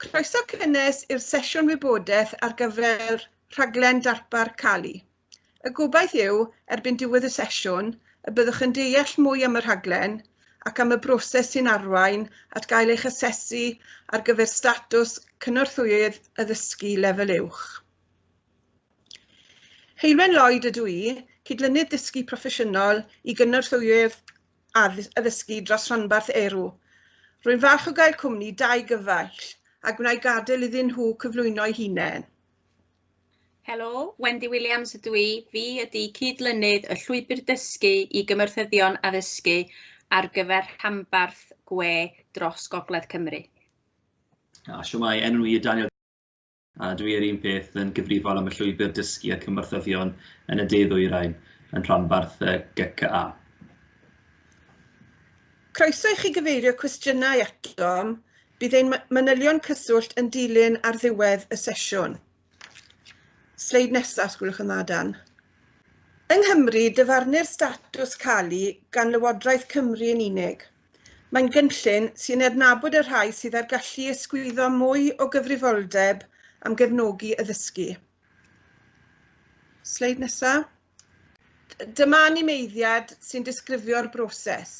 Croeso cynnes i'r sesiwn wybodaeth ar gyfer rhaglen darpar Cali. Y gobaith yw, erbyn diwedd y sesiwn, y byddwch yn deall mwy am y rhaglen ac am y broses sy'n arwain at gael eich asesu ar gyfer statws cynorthwyydd addysgu lefel uwch. Heilwen Lloyd ydw i, cydlynydd dysgu proffesiynol i gynorthwyydd addysgu dros ranbarth Erw. Rwy'n falch o gael cwmni da i gyfaill a gwna'i gadael iddyn nhw cyflwyno'i hunain. Helo, Wendy Williams ydw i. Fi ydy cyd-lynydd y Llwybr Dysgu i Gymorthyddion Addysgu ar gyfer rhanbarth gwe dros Gogledd Cymru. A siwmai, enw i yw Daniel A dwi yr un peth yn gyfrifol am y llwybr dysgu a cymorthyddion yn y de-ddwyrain yn rhanbarth y GCA. Croeso i chi gyfeirio cwestiynau atom, bydd ein manylion cyswllt yn dilyn ar ddiwedd y sesiwn. Sleid nesaf, os gwelwch yn dda, Dan. Yng Nghymru, dyfarnu'r statws calu gan Lywodraeth Cymru yn unig. Mae'n gynllun sy'n adnabod y rhai sydd â'r gallu i ysgwyddo mwy o gyfrifoldeb am gefnogi addysgu. Sleid nesa. Dyma animeiddiad sy'n disgrifio'r broses.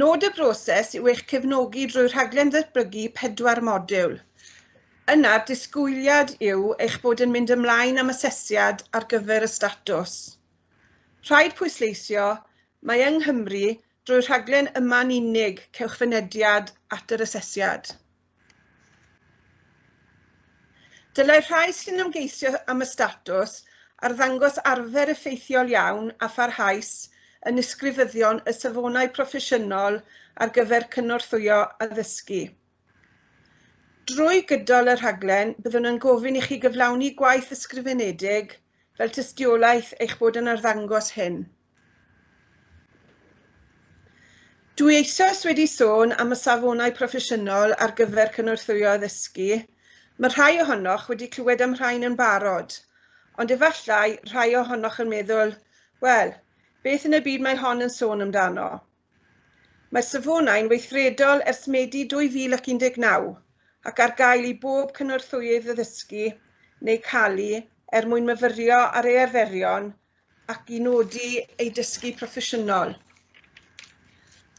Nod y broses yw eich cefnogi drwy rhaglen ddatblygu pedwar modiwl. Yna'r disgwyliad yw eich bod yn mynd ymlaen am asesiad ar gyfer y statws. Rhaid pwysleisio, mae yng Nghymru, drwy'r rhaglen yma'n unig, cewch fynediad at yr asesiad. Dylai rhai sy'n ymgeisio am y statws arddangos arfer effeithiol iawn a pharhaus yn ysgrifyddion y Safonau Proffesiynol ar gyfer Cynorthwyo Addysgu. Drwy gydol y rhaglen, byddwn yn gofyn i chi gyflawni gwaith ysgrifenedig fel tystiolaeth eich bod yn arddangos hyn. Dwi eisoes wedi sôn am y safonau proffesiynol ar gyfer cynorthwyo addysgu. Mae rhai ohonoch wedi clywed am rhain yn barod, ond efallai rhai ohonoch yn meddwl, wel, beth yn y byd mae hon yn sôn amdano? Mae'r safonau'n weithredol ers Medi 2019 ac ar gael i bob cynorthwyydd addysgu neu calu er mwyn myfyrio ar ei arferion ac i nodi ei dysgu proffesiynol.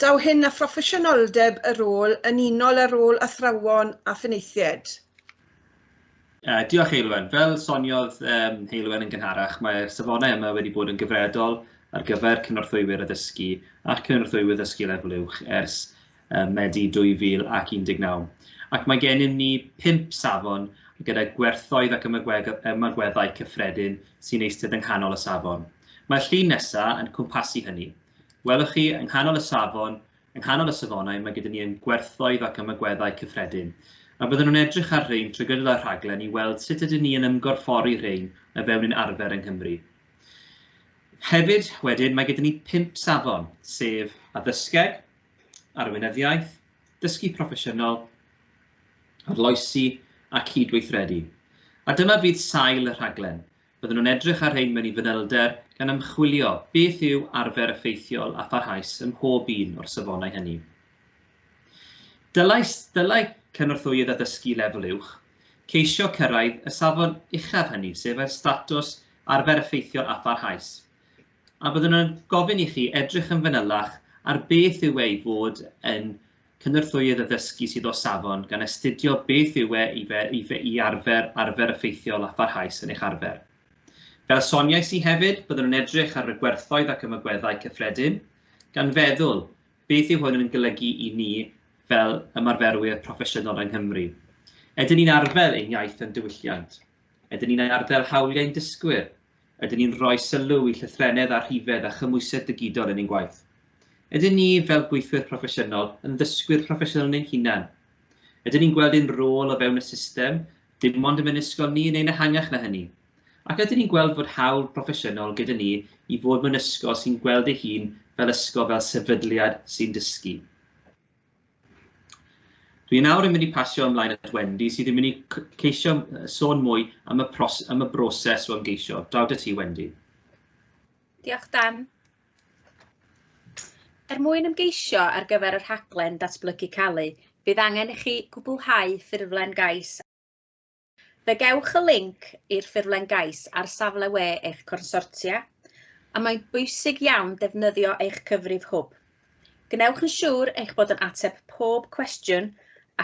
Daw hyn â phroffesiynoldeb y rôl yn unol â rôl athrawon a phenaethiaid. Uh, diolch Heilwen. Fel soniodd um, Heilwen yn gynharach, mae'r safonau yma wedi bod yn gyfredol ar gyfer cynorthwywyr addysgu a cynorthwywyr ddysgu lefel uwch ers ym Medi 2019, ac mae gennym ni phump safon gyda gwerthoedd ac ymagweddau cyffredin sy'n eistedd yng nghanol y safon. Mae'r llun nesaf yn cwmpasu hynny. Welwch chi, yng nghanol y safon, yng nghanol y safonau, mae gyda ni ein gwerthoedd ac ymagweddau cyffredin, a byddwn yn edrych ar rhein trwy gydol y rhaglen i weld sut ydyn ni yn ymgorffori rhein o fewn ein arfer yng Nghymru. Hefyd, wedyn, mae gyda ni pump safon, sef addysgeg, arweinyddiaeth, dysgu proffesiynol, arloesi a cyd-weithredu. A dyma fydd sail y rhaglen. Bydden nhw'n edrych ar rhein mewn i fanylder gan ymchwilio beth yw arfer effeithiol a pharhaus ym mhob un o'r safonau hynny. Dylai, dylai cynorthwyydd addysgu lefel uwch ceisio cyrraedd y safon uchaf hynny, sef y statws arfer effeithiol a pharhaus. a byddwn yn gofyn i chi edrych yn fanylach ar beth yw e i fod yn cynorthwyydd addysgu sydd o safon, gan astudio beth yw e i, fe, i, fe, i arfer arfer effeithiol a pharhaus yn eich arfer. Fel soniais i hefyd, byddwn yn edrych ar y gwerthoedd ac ymagweddau cyffredin, gan feddwl beth yw hwn yn golygu i ni fel ymarferwyr proffesiynol yng Nghymru. Ydyn ni'n arfer ein iaith yn diwylliant? Ydyn ni'n arddel hawliau'n dysgwyr? Ydyn ni'n rhoi sylw i llythrennedd a rhifedd a chymhwysedd digidol yn ein gwaith? Ydyn ni, fel gweithwyr proffesiynol, yn ddysgwyr proffesiynol yn ein hunain? Ydyn ni'n gweld ein rôl o fewn y system, dim ond ym mhenysgol ni, neu'n ehangach na hynny? Ac ydyn ni'n gweld fod hawl proffesiynol gyda ni i fod mewn ysgol sy'n gweld ei hun fel ysgol fel sefydliad sy'n dysgu? Dwi nawr yn mynd i pasio ymlaen at Wendy sydd yn mynd i ceisio sôn mwy am y, pros, am y broses o ymgeisio. Drawd y ti, Wendy. Diolch, Dan. Er mwyn ymgeisio ar gyfer y rhaglen datblygu calu, bydd angen i chi gwblhau ffurflen gais Fe gewch y linc i'r ffurflen gais ar safle we eich consortia, a mae'n bwysig iawn defnyddio eich cyfrif hwb. Gwnewch yn siŵr eich bod yn ateb pob cwestiwn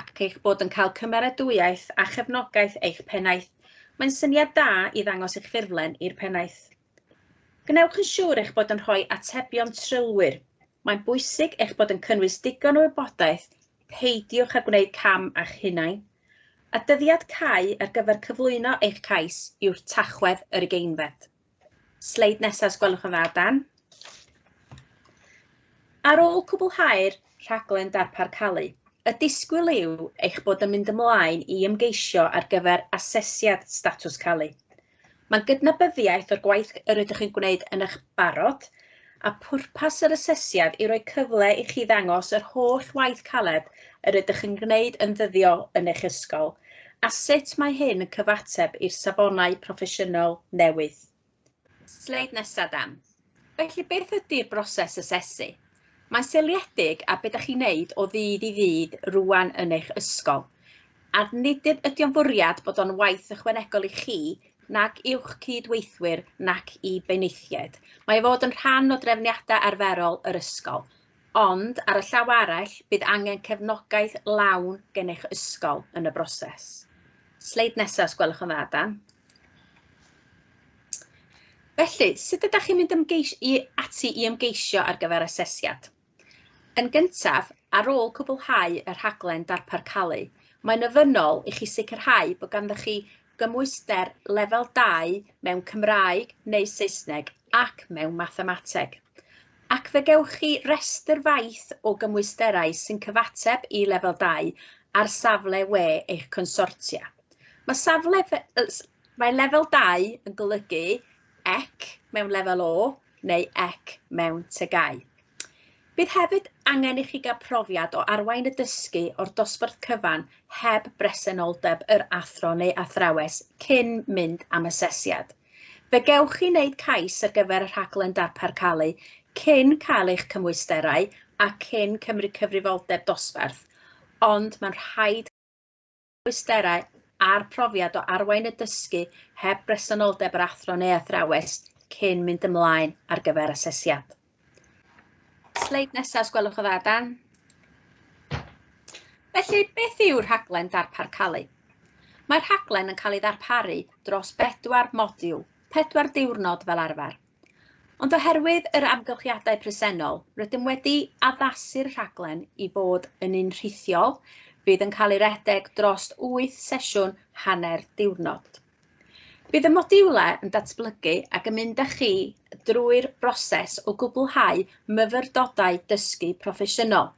ac eich bod yn cael cymeradwyaeth a chefnogaeth eich pennaeth, mae'n syniad da i ddangos eich ffurflen i'r pennaeth. Gwnewch yn siŵr eich bod yn rhoi atebion trylwyr. Mae'n bwysig eich bod yn cynnwys digon o wybodaeth, peidiwch â gwneud cam â'ch hunain, a dyddiad cau ar gyfer cyflwyno eich cais yw'r Tachwedd yr ugeinfed. Sleid nesaf os gwelwch yn dda, Dan. Ar ôl cwblhau'r rhaglen darpar calu, y disgwyl yw eich bod yn mynd ymlaen i ymgeisio ar gyfer asesiad statws calu. Mae'n gydnabyddiaeth o'r gwaith yr ydych chi'n gwneud yn eich barod, a phwrpas yr asesiad yw rhoi cyfle i chi ddangos yr holl waith caled yr ydych chi'n gwneud yn ddyddiol yn eich ysgol, a sut mae hyn yn cyfateb i'r safonau proffesiynol newydd. Sleid nesa, Dan. Felly beth ydy'r broses asesu? Mae'n seiliedig ar be da chi'n neud o ddydd i ddydd rwan yn eich ysgol. A nid ydy o'n fwriad bod o'n waith ychwanegol i chi, nag i'wch cyd-weithwyr, nac i benaethiaid. Mae o fod yn rhan o drefniadau arferol yr ysgol. Ond, ar y llaw arall, bydd angen cefnogaeth lawn gen eich ysgol yn y broses. Sleid nesaf, os gwelwch yn dda, Dan. Felly, sut ydych chi'n mynd ymgeis i ati i ymgeisio ar gyfer asesiad? Yn gyntaf, ar ôl cwblhau y rhaglen darpar calu, mae'n ofynnol i chi sicrhau bod ganddo chi gymhwyster lefel 2 mewn Cymraeg neu Saesneg ac mewn Mathemateg, ac fe gewch chi restr faith o gymwysterau sy'n cyfateb i lefel 2 ar safle we eich consortia. Mae safle mae lefel 2 yn golygu ec mewn lefel O neu ec mewn tygau. Bydd hefyd angen i chi gael profiad o arwain y dysgu o'r dosbarth cyfan heb bresenoldeb yr athro neu athrawes cyn mynd am asesiad. Fe gewch chi wneud cais ar gyfer y rhaglen darpar calu cyn cael eich cymwysterau a cyn cymryd cyfrifoldeb dosbarth, ond mae'n rhaid cymhwysterau a'r profiad o arwain y dysgu heb bresenoldeb yr athro neu athrawes cyn mynd ymlaen ar gyfer asesiad. Sleid nesaf, os gwelwch yn dda, Dan. Felly, beth yw rhaglen darpar calu? Mae'r rhaglen yn cael ei ddarparu dros bedwar modiwl, pedwar diwrnod fel arfer. Ond oherwydd yr amgylchiadau presennol, rydym wedi addasu'r rhaglen i fod yn un rhithiol, fydd yn cael ei redeg dros wyth sesiwn hanner diwrnod. Bydd y modiwlau yn datblygu ac yn mynd â chi drwy'r broses o gwblhau myfyrdodau dysgu proffesiynol.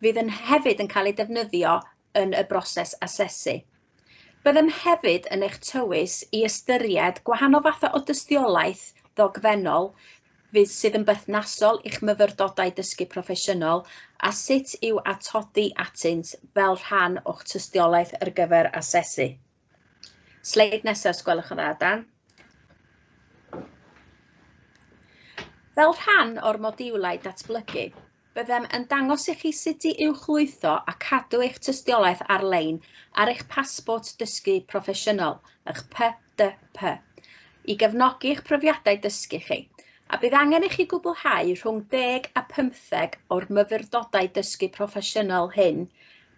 Fydd yn hefyd yn cael ei defnyddio yn y broses asesu. Byddem hefyd yn eich tywys i ystyried gwahanol fathau o dystiolaeth ddogfennol fydd sydd yn berthnasol i'ch myfyrdodau dysgu proffesiynol a sut i'w atodi atynt fel rhan o'ch tystiolaeth ar gyfer asesu. Sleid nesaf, os gwelwch yn dda, Dan. Fel rhan o'r modiwlau datblygu, byddem yn dangos i chi sut i uwchlwytho a cadw eich tystiolaeth ar-lein ar eich pasbort dysgu proffesiynol, eich PDP, i gefnogi eich profiadau dysgu chi, a bydd angen i chi gwblhau rhwng 10 a 15 o'r myfyrdodau dysgu proffesiynol hyn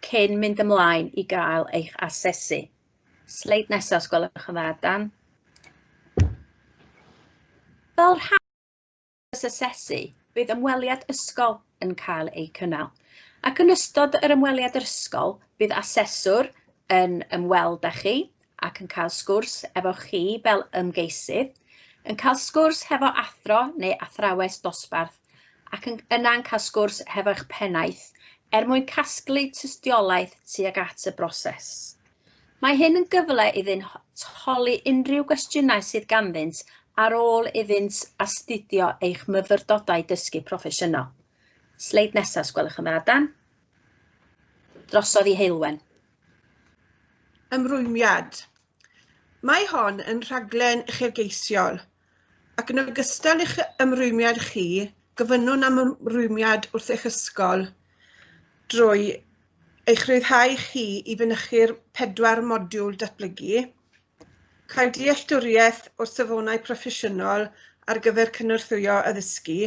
cyn mynd ymlaen i gael eich asesu. Sleid nesaf os gwelwch yn dda, Dan. Fel rhan o'r asesu, bydd ymweliad ysgol yn cael ei cynnal. Ac yn ystod yr ymweliad ysgol, bydd aseswr yn ymweld â chi ac yn cael sgwrs efo chi fel ymgeisydd, yn cael sgwrs hefo athro neu athrawes dosbarth ac yn, yna'n cael sgwrs hefo'ch pennaeth er mwyn casglu tystiolaeth tuag at y broses. Mae hyn yn gyfle iddynt holi unrhyw gwestiynau sydd ganddynt ar ôl iddynt astudio eich myfyrdodau dysgu proffesiynol. Sleid nesaf, os gwelwch yn dda, Dan. Drosodd i Heulwen. Ymrwymiad. Mae hon yn rhaglen uchelgeisiol ac yn ogystal i'ch ymrwymiad chi, gofynnwn am ymrwymiad wrth eich ysgol drwy eich rhyddhau chi i fynychu'r pedwar modiwl datblygu, cael dealltwriaeth o'r safonau proffesiynol ar gyfer cynorthwyo addysgu,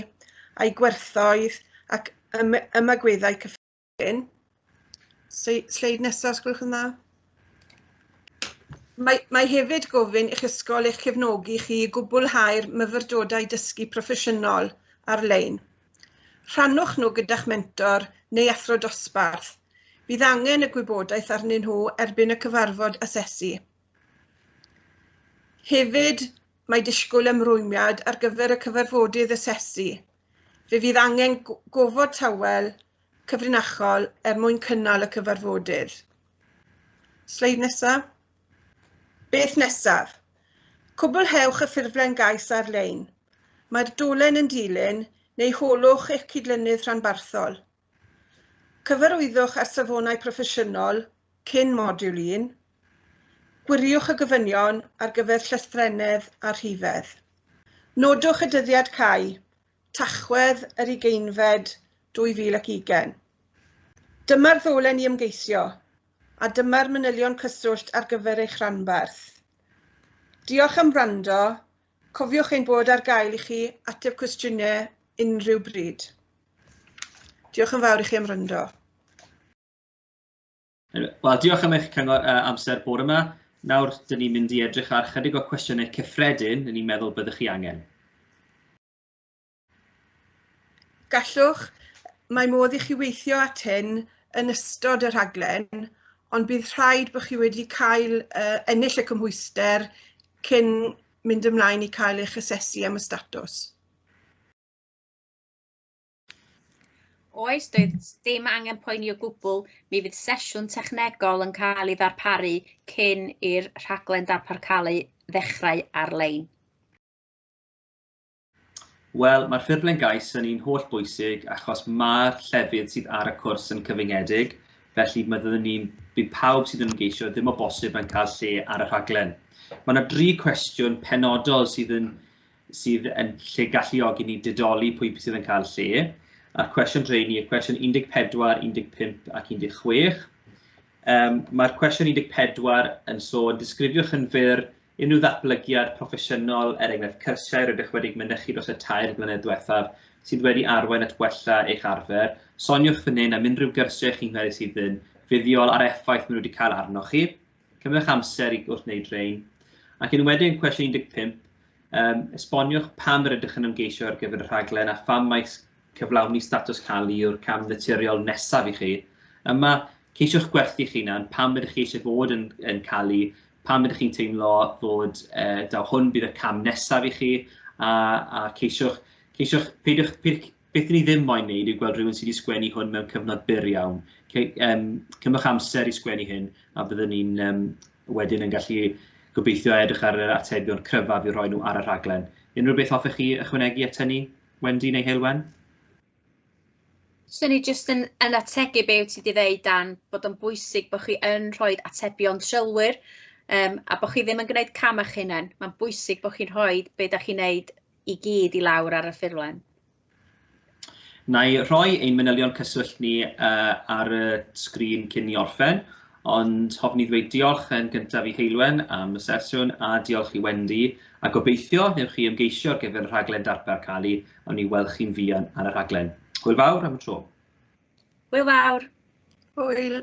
a'i gwerthoedd ac ymagweddau cyffredin. Wedyn, sleid nesaf, os gwelwch yn dda. Mae, mae hefyd gofyn i'ch ysgol eich cefnogi chi i gwblhau'r myfyrdodau dysgu proffesiynol ar-lein. Rhannwch nhw gyda'ch mentor neu athro dosbarth. Bydd angen y gwybodaeth arnyn nhw erbyn y cyfarfod asesu. Hefyd, mae disgwyl ymrwymiad ar gyfer y cyfarfodydd asesu. Fe fydd angen gofod tawel cyfrinachol er mwyn cynnal y cyfarfodydd. Sleid nesaf. Beth nesaf? Cwblhewch y ffurflen gais ar-lein. Mae'r dolen yn dilyn neu holwch eich cydlynydd rhanbarthol. Cyfarwyddwch â'r safonau proffesiynol cyn modiwl 1. Gwiriwch y gofynion ar gyfer llythrennedd a rhifedd. Nodwch y dyddiad cau Tachwedd yr ugeinfed 2020. Dyma'r ddolen i ymgeisio, a dyma'r manylion cyswllt ar gyfer eich rhanbarth. Diolch am wrando, cofiwch ein bod ar gael i chi ateb cwestiynau unrhyw bryd. Diolch yn fawr i chi am wrando. Wel, diolch am eich cyngor uh, amser bore yma. Nawr, dyn ni'n mynd i edrych ar chydig o cwestiynau cyffredin yn ni'n meddwl byddwch chi angen. Gallwch, mae modd i chi weithio at hyn yn ystod y rhaglen, ond bydd rhaid bod chi wedi cael uh, ennill y cymhwyster cyn mynd ymlaen i cael eich asesu am y statws. Oes, doedd dim angen poeni o gwbl, mi fydd sesiwn technegol yn cael ei ddarparu cyn i'r rhaglen darpar cael ei ddechrau ar-lein. Wel, mae'r ffurflen gais yn un holl bwysig achos mae'r llefydd sydd ar y cwrs yn cyfyngedig, felly mae byddwn ni'n bydd pawb sydd yn ymgeisio ddim o bosib yn cael lle ar y rhaglen. Mae yna dri cwestiwn penodol sydd yn sydd yn lle galluogi ni didoli pwy sydd yn cael lle, a'r cwestiwn dreini, y cwestiwn 14, 15 ac 16. Um, Mae'r cwestiwn 14 yn sôn, disgrifiwch yn fyr unrhyw ddatblygiad proffesiynol, er enghraifft cyrsiau rydych wedi mynychu dros y tair blynedd diwethaf, sydd wedi arwain at wella eich arfer. Soniwch fan hyn am unrhyw gyrsiau chi'n gwneud sydd yn fuddiol a'r effaith maen nhw wedi cael arnoch chi. Cymryd amser i wrth wneud rhain, ac yn wedyn cwestiwn 15, um, esboniwch pam yr ydych yn ymgeisio ar gyfer y rhaglen a pham mae cyflawni statws cael yw'r cam naturiol nesaf i chi. Yma, ceisiwch gwerthu chi na'n pam ydych chi eisiau bod yn, yn cael ei, pam ydych chi'n teimlo fod uh, daw hwn bydd y cam nesaf i chi, a, a ceisiwch, ceisiwch peidiwch, peidiwch, Beth dyn ni ddim moyn wneud yw gweld rhywun sydd wedi sgwennu hwn mewn cyfnod byr iawn. Ce, um, cymwch amser i sgwennu hyn a byddwn ni'n um, wedyn yn gallu gobeithio edrych ar yr atebion cryfaf i roi nhw ar y rhaglen. Unrhyw beth hoffech chi ychwanegu at hynny, Wendy neu Heilwen? Swn i jyst yn, yn ategu be wyt ti wedi dweud dan, bod o'n bwysig bod chi yn rhoi atebion trylwyr um, a bod chi ddim yn gwneud cam eich hunain. Mae'n bwysig bod chi'n rhoi be da chi'n gwneud i gyd i lawr ar y ffurflen. Wna i rhoi ein manylion cyswllt ni ar y sgrin cyn ni orffen, ond hoffwn i ddweud diolch yn gyntaf i Heulwen am y sesiwn a diolch i Wendy, a gobeithio wnewch chi ymgeisio ar gyfer y rhaglen darpar calu a wn i weld chi'n fuan ar y rhaglen. Hwyl fawr am y tro. Hwyl fawr. Hwyl.